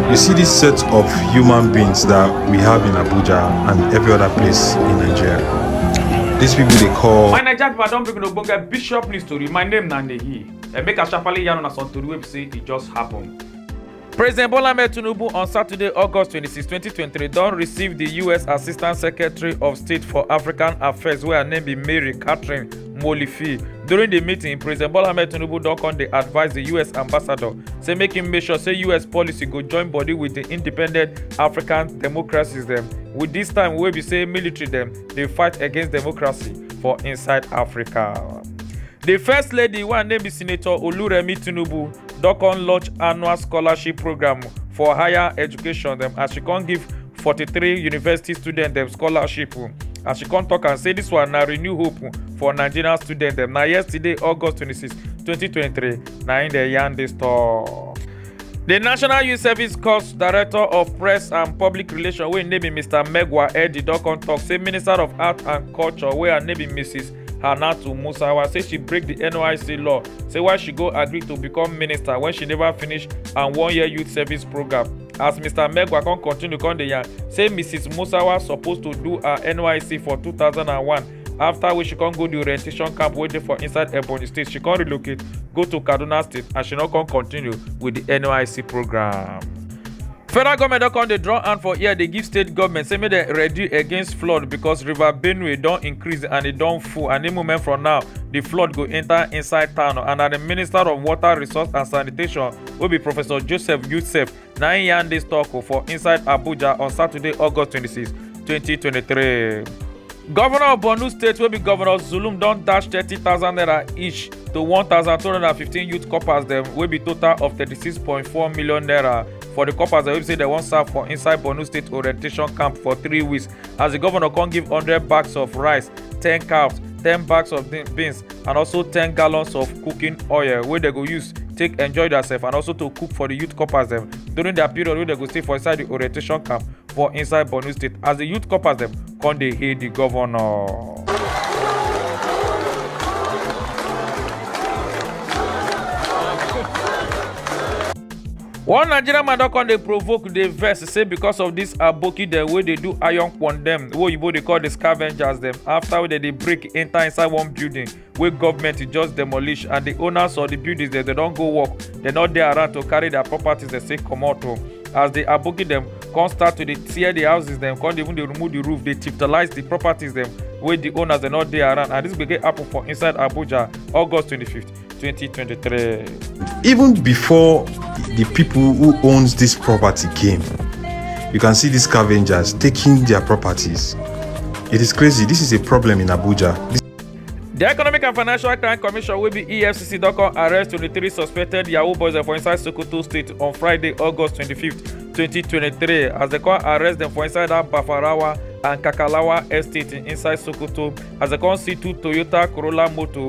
You see this set of human beings that we have in Abuja and every other place in Nigeria. These people they call. My Naija people, I don bring una get bishop news story. My name na Nehi. And make a sharply yarn on some story wey be say it just happened. President Bola Ahmed Tinubu on Saturday, August 26, 2023, don receive the U.S. Assistant Secretary of State for African Affairs, where her name be Mary Catherine Molifi. During the meeting, President Bola Ahmed Tinubu don come dey advise the US ambassador say make him make sure say US policy go join body with the independent African democracies dem with this time wey be say military dem dey fight against democracy for inside Africa. The first lady wey her name be Senator Oluremi Tinubu don come launch annual scholarship program for higher education dem as she come give 43 university student dem scholarship as she come talk am say dis one na renew hope for nigerian students dem na yesterday august 26 2023 na im dem yarn dis talk. di national youth service corps director of press and public relations wey im name be mr megwa eddy don come tok say minister of art and culture wey her name be mrs hanatu musawa say she break di nyc law say why she go agree to become minister wen she neva finish her one year youth service programme. as mr megwa come continue come dey yarn say mrs musawa suppose to do her nysc for 2001 after wey she come go di orientation camp wey dey for inside ebonyi state she come relocate go to kaduna state and she no come continue wit di nysc programme. federal goment don come dey draw hand for ear dey give state goment say make dem ready against flood because river benue don increase and e don full and any moment from now di flood go enta inside town and na di minister of water resource and sanitation wey be professor joseph yusef na im yarn dis tok for inside abuja on saturday august 26 2023 governor of borno state wey be governor zulum don dash 30000 naira each to 1215 youth corpers dem wey be total of 36.4 million naira for di corpers dem wey be say dem wan serve for inside borno state orientation camp for three weeks as di governor come give 100 bags of rice 10 calves 10 bags of beans and also 10 gallons of cooking oil wey dem go use take enjoy theirself and also to cook for the youth corpers dem during their period wey dem go stay for inside the orientation camp for inside borno state as the youth corpers dem come dey hail the governor. one nigerian man don come dey provoke dey vex say because of dis aboki dem wey dey do iron kwon dem wey oyibo dey call di scavengers dem after wey dem dey break enter inside one building wey government just demolish and di owners of di buildings dem don go work dem no dey around to carry their properties dem take comot o as di aboki dem come start to dey tear di houses dem come even dey remove di roof dey chiftalize di properties dem wey di owners dem no dey around and dis gbege happen for inside abuja august 25th. 2023. Even before the people who owns this property came, you can see these scavengers taking their properties. It is crazy. This is a problem in Abuja. This The Economic and Financial Crime Commission wey be EFCC don come arrest 23 suspected Yahoo boys for inside Sokoto State on Friday, August 25, 2023 as dem come arrest dem for inside that Bafarawa and Kakalawa estate inside Sokoto as dem come see two Toyota Corolla motor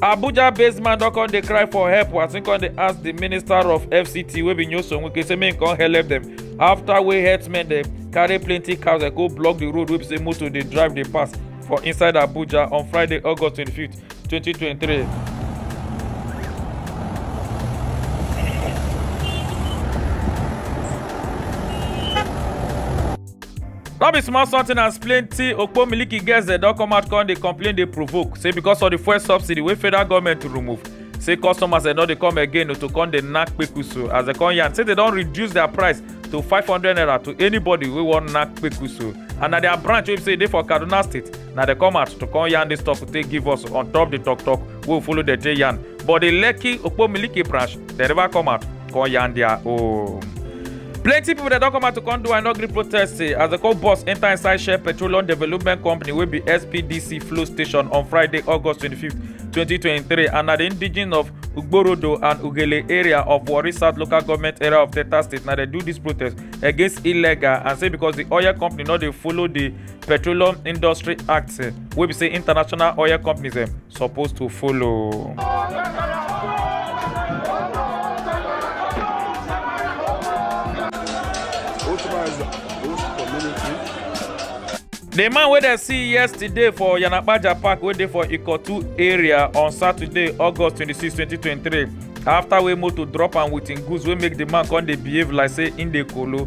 abuja based man don come dey cry for help as im come dey ask di minister of fct wey be nyoso wike say make im come help dem afta wey herdsmen dem carry plenty cows dem go block di road wey be say motor dey drive dey pass for inside abuja on friday august 25th 2023. no be small something as plenty okpo miliki girls dem don come out come dey complain dey provoke say because of the fuel subsidy wey federal government remove say customers dem don dey come again to come dey knack kpekusu as dem come yarn say dem don reduce their price to five hundred naira to anybody wey wan knack kpekusu and na their branch wey be say e dey for kaduna state na dey come out to come yarn dis talk to take give us on top the talk talk wey we follow dey take yarn but the lekki okpomiliki branch dey never come out come yarn their own. plenty pipo dey don come out to come do i no gree protest eh, as dem come bus enta inside shell petroleum development company wey be spdc flow station on friday august 25 2023 and na di indigen of ugborodo and ugele area of warri south local government area of delta state na dey do dis protest against illegal and say because di oil company no dey follow di petroleum industry act eh, wey be say international oil companies dem eh, suppose to follow. The man wey dem see yesterday for Yanapaja Park wey dey for Ikotu area on Saturday, August 26, 2023 after wey motor drop am with im goods wey make the man come dey behave like say im dey kolo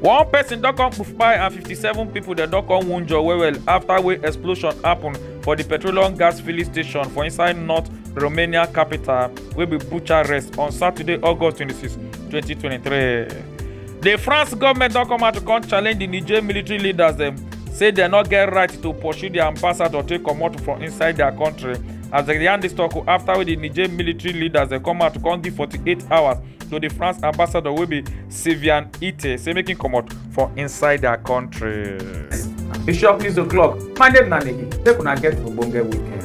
one person don come kpai and 57 pipo dem don come wunjure well well afta wey explosion happun for di petroleum gas filling station for inside north romania capital wey be bucharest on saturday august 26 2023 di france goment don come out to come challenge di niger military leaders dem say dem no get right to pursue di ambassador take comot from inside dia kontri as dem yarn dis tok afta wey di niger military leaders dem come out to come give 48 hours to di france ambassador wey be Sylvian Ite say make him comot for inside their country. Bishop News O'Clock, Monday na Negi, make una get ogbonge weekend.